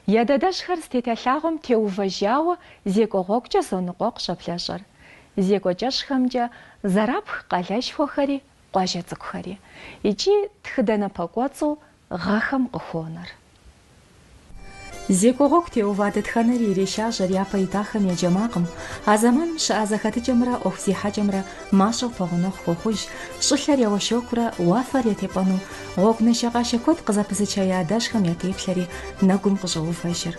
Я дадэжьхэр зытета лъагъуэм теувэжауэ зекӏуэ гъуэгукӏэ зоныкъуэкъу щӏэблэщӏэр. Зекӏуэ кӏэщӏхэмкӏэ зэрапх къалэшхуэхэри къуажэ цӏыкӏухэри. Икӏи тхыдэ напэкӏуэцӏу гъэхэм къыхонэр. Зекӏуэ гъуэгу теува дэтхэнэри ирешажьэр япэ итахэм я джэ макъым. А зэманым щыӏа зэхэтыкӏэмрэ ӏуэху зехьэкӏэмрэ мащӏэу пэгъунэгъу хуохъуж, щӏылъэр я уэншэкурэ уафэр я тепӏэну, Гъуэгу нашэкъашэ куэд къызэпызыча я адэжьхэм я теплъэри нэгум къыщӏоувэжыр.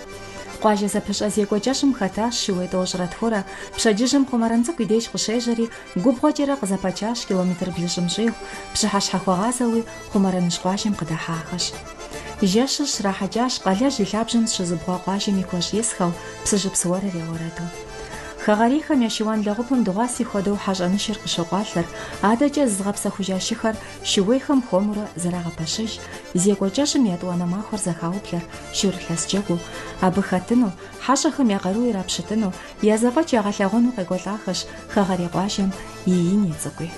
Къуажэ зэпыщӏэ зекӏуэ кӏэщӏым хэтащ шууей тӏощӏрэ тхурэ, пщэдджыжьым Хъумэрэн цӏыкӏу и деж къыщежьэри, губгъуэкӏэрэ къызэпачащ километр блыщӏым щӏигъу, пщыхьэщхьэ хуэгъазэуи Хъумэрэныжь къуажэм къыдэхьахэщ. Жэщыр щрахьэкӏащ къалэжь и лъабжьэм зыщызыубгъуа къуажэм и куэщӏ исхэу, Псыжьыпс уэрыр я уэрэду. Хэгъэрейхэм я шыуан лэгъупым дыгъуаси хуэдэу хьэщӏэнышыр къыщокъуалъэр, адэкӏэ зызыгъэпсэхужа шыхэр шууейхэм хуэмурэ зэрагъэпэщыж. Зекӏуэ кӏэщӏым етӏуанэ махуэр зэхаублэр шурылъэс джэгуу, абы хэтыну, хьэщӏэхэм я къару ирапщытыну, я зэфӏэкӏ ягъэлъагъуэну къекӏуэлӏахэщ хэгъэрей къуажэм и ини цӏыкӏуи.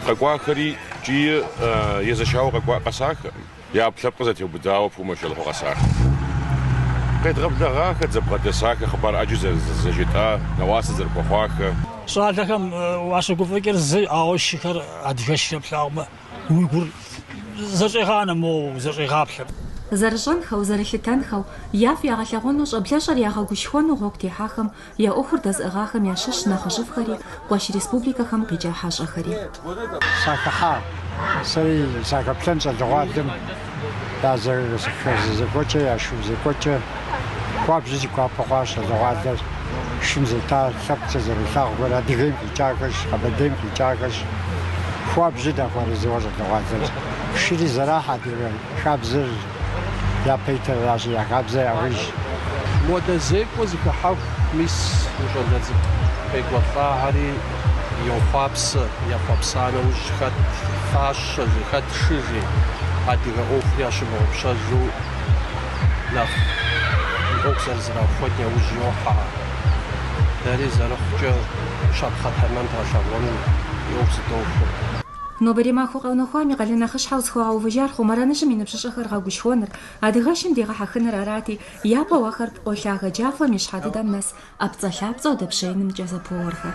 Къэкӏуахэри икӏи езэшауэ къэсахэкъым. Я ӏэпкълъэпкъыр зэтеубыдауэ пумэ щолгъуэ къэсахэр. Къедгъэблэгъахэр, зэбгъэдэсахэр, хъыбар ӏэджэ зэрызэжетӏа, нэӏуасэ зэрыхуэхъуахэр. Щӏалэхэм уащыгуфӏыкӏыр зы, ауэ шыхэр адыгэшрэ плъагъумэ, уи гур зэщӏегъанэ, моуэ узэщӏегъаплъэ. Зэрыщӏэнхэу, зэрылъытэнхэу, яфӏ ягъэлъэгъуэну, щӏэблэщӏэр ягъэгушхуэну гъуэгу техьахэм Я ӏуэхур дэзыӏыгъахэм ящыщщ нэхъыжьыфӏхэри, къуэш республикэхэм къикӏа хьэщӏэхэри. Сахыхьа, сэри сахэплъэн щӏалэгъуалэм я зэхэзэзэкӏуэкӏэ, я шым зекӏуэкӏэ. Хуабжьу си гуапэ хъуащ щӏалэгъуалэр, шым зета лъэпкъ зэрылъагъухэр Адыгейм къикӏахэщ, Къэбэрдейм къикӏахэщ. Хуабжьу дахуэарэзыуэ щӏалэгъуалэр. Шыри зэрахь адыгэ хабзэр. япэ итыращи я хабзэ яужь. Модэ зекӏуэ зыхыхьэху мис мы щӏалэ цӏыкӏу къекӏуэлӏахэри йохъуапсэ, ехъуэпса нэужь хэт фащэ жи, хэт шы жи, адыгэ ӏуэхур ящымыгъупщэжу нэхъ и ӏуэху зэрызэрахуэн яужь йохьэ. Дэри зэрыхъукӏэ щапхъэ тэмэм дгъэлъэгъуэну и ӏуэху зыдохуэ. Нобэрей махуэ къэунэхуам и къалэн нэхъыщхьэу зыхуигъэувыжар Хъумэрэныжьым и ныбжьыщӏэхэр гъэгушхуэныр, адыгэшым дегъэхьэхыныр арати, япэу ахэр пкъо лъагэ джафэм и щхьэ дыдэм нэс ӏэпцӏэлъапцӏэу дэпщеинымкӏэ зэпоуэхэр.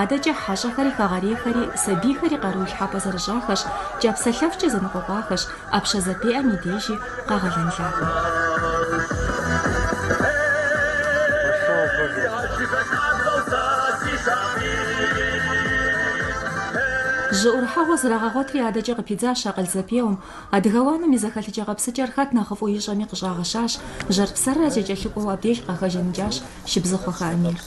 Адэкӏэ хьэщӏэхэри хэгъэрейхэри сабийхэри къару илъхьэпӏэ зэрыщӏахэщ, кӏапсэлъэфкӏэ зэныкъуэкъуахэщ. ӏэпщэ зэпеӏэм и дежи къэгъэлэн лъагэу. Жьы ӏурыхьэгъуэ зрагъэгъуэтри адэкӏэ къыпидзащ акъыл зэпеуэм. Адыгэ уанэм и зэхэлъыкӏэ-къэпсыкӏэр хэт нэхъыфӏу ищӏэми къыщӏагъэщащ, жьэр-псэррэ зэкӏэлъыкӏуэу абдеж къахэжаныкӏащ Шыбзыхъуэхэ Эмир.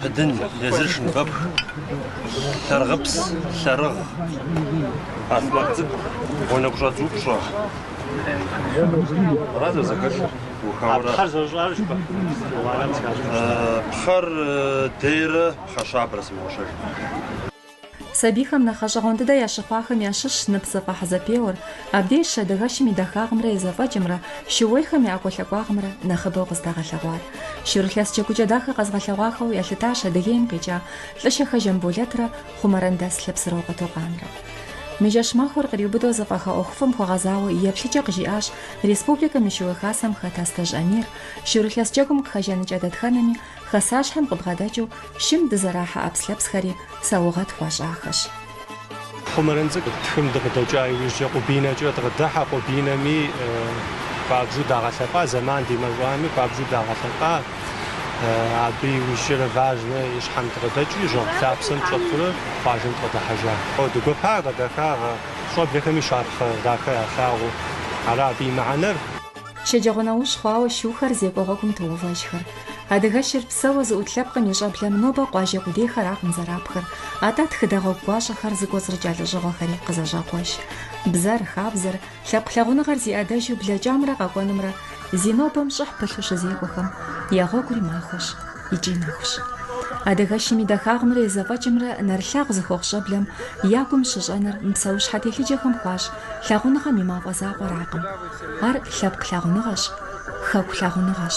Быдын, езыр шыныбэпх, лъэрыгъыпс, лъэрыгъ, ахъмэт цӏыкӏу, уанэгу щӏэдз упщӏэ. Аращ а зэхэлъыр. А пхъэр зэрыщӏар жыпӏэ? Пхъэр дейрэ пхъэщабэрэ сымыгъуэщэжым. Сабийхэм нэхъ гъэщӏэгъуэн дыдэ ящыхъуахэм ящыщщ ныпзэфӏэхь зэпеуэр. Абдежщ Адыгэшым и дахагъымрэ и зэфӏэкӏымрэ шууейхэм я ӏэкӏуэлъакӏуагъымрэ нэхъыбэу къыздагъэлъэгъуар. Шурылъэс джэгукӏэ дахэ къэзгъэлъэгъуахэу ялъытащ Адыгейм къикӏа Лӏыщэхэ Жамболэтрэ Хъумэрэн дэс Лъэпсырокъуэ Токъанрэ. Мы жэщ махуэр къриубыдэу зэфӏэха ӏуэхуфӏым хуэгъэзауэ и еплъыкӏэ къыжиӏащ республикэм и Шууей Хасэм хэт Астэжь Амир, шурылъэс джэгум къыхэжаныкӏа дэтхэнэми, Хасащхьэм къыбгъэдэкӏыу шым дызэрахьэ ӏэпслъэпсхэри саугъэт хуащӏахэщ. Хъумэрын цӏыкӏу тхым дыкъыдэкӏа иужькӏэ Къубинэкӏэ дыкъыдыхьэ. Къубинэми хуабжьу дагъэлъэпӏа, зэман димэщӏами хуабжьу дагъэлъэпӏа. Абы иужькӏэрэ Важнэ и щхьэм дыкъыдэкӏи, жьэгъу лъапсэм дыщӏэтурэ къуажэм дыкъыдыхьэжа. О, дыгуэпа къыдэха гъэ щӏэблэхэми щапхъэ дахэ ялъагъуу. Ара абы и мыхьэнэр? Щэджэгъуэнэужь хъуауэ шухэр зекӏуэ гъуэгум тоувэжхэр. Адыгэшыр псэуэ зыӏут лъэпкъым и щӏэблэм нобэ къуажэ къудейхэракъым зэрапхыр, атӏэ тхыдэ гъуэгу гуащӏэхэр зыкӏуэцӏрыкӏа лӏэщӏыгъуэхэри къызэщӏакъуэж. Бзэр, хабзэр, лъэпкъ лъагъуныгъэр зи ӏэдэжу блэкӏамрэ къэкӏуэнымрэ зи нобэм щӏыхь пылъу щызекӏуэхэм я гъуэгури махуэщ икӏи нэхущ. Адыгэшым и дахагъымрэ и зэфӏэкӏымрэ нэрылъагъу зыхуэхъу щӏэблэм я гум щыщӏэнэр мы псэущхьэ телъыджэхэм хуащӏ лъагъуныгъэм и мафӏэ закъуэракъым. Ар лъэпкъ лъагъуныгъэщ, хэку лъагъуныгъэщ.